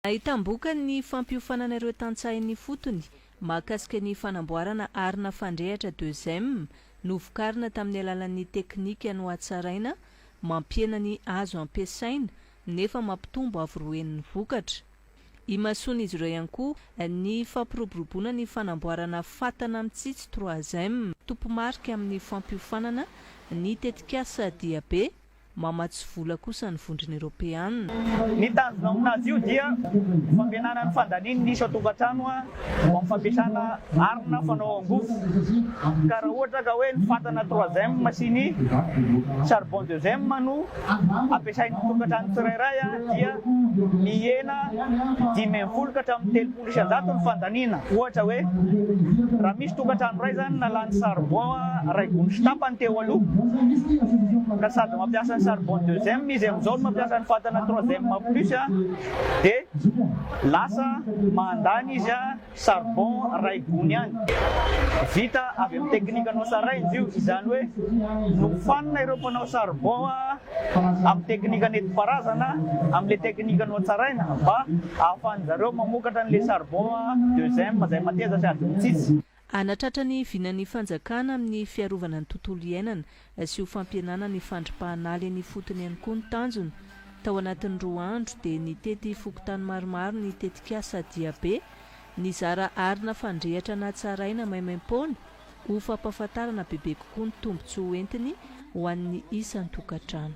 Nahitam-bokany ny fampiofanana ireo tantsaha-ny ifotony mahakasika ny fanamboarana arina fandrehatra deux M novokarina tamin'ny alalan'ny teknika nohatsaraina mampihena ny azo ampiasaina nefa mampitombo avo roa heny ny vokatra. Imasoan'izy ireo ihany koa ny fampiroboroboana ny fanamboarana fatana mitsitsy trois M. Tompo-marika amin'ny fampiofanana ny tetikasa Diabe Mamatsy vola kosa ny vondrona eropeanina. Ny tanjona amin'azy io dia ny fampihenana ny fandanian'ny isan-tokantrano eo amin'ny fampiasana arina fanao angofo. Ka raha ohatra ka hoe ny fatana troisième sy ny charbon deuxième no ampiasain'ny tokantrano tsirairay dia mihena dimy ambin'ny folo ka hatramin'ny telopolo. Folo sy an-jato ny fandaniana. Ohatra hoe, raha misy tokantrano iray izany nalany charbon iray gony sy tapany teo aloha, ka sady mampiasa ny charbon deuxième izy amin'izao no mampiasa ny fatana troisième plus, dia lasa mandany izy charbon iray gony ihany. Vita avy amin'ny teknikanao sarainjo io, izany hoe nofanina ireo mpanao charbon amin'ny teknika nentim-paharazana, amin'ilay teknika nohatsaraina mba hahafahan'ny zareo mamokatra an'ilay charbon à deux M izay mateza sady mitsitsy. Hanatratra ny vinan'ny fanjakana amin'ny fiarovana ny tontolo iainana sy ho fampihenana ny fandripahana ala eny ifotony ihany koa ny tanjona. Tao anatin'ny roa andro dia nitety fokontany maromaro ny tetikasa Diabe, nizara arina fandrehitra natsaraina maimaim-poana, ho fampahafantarana bebe kokoa ny tombontsoa hoentiny ho an'ny isan-tokantrano.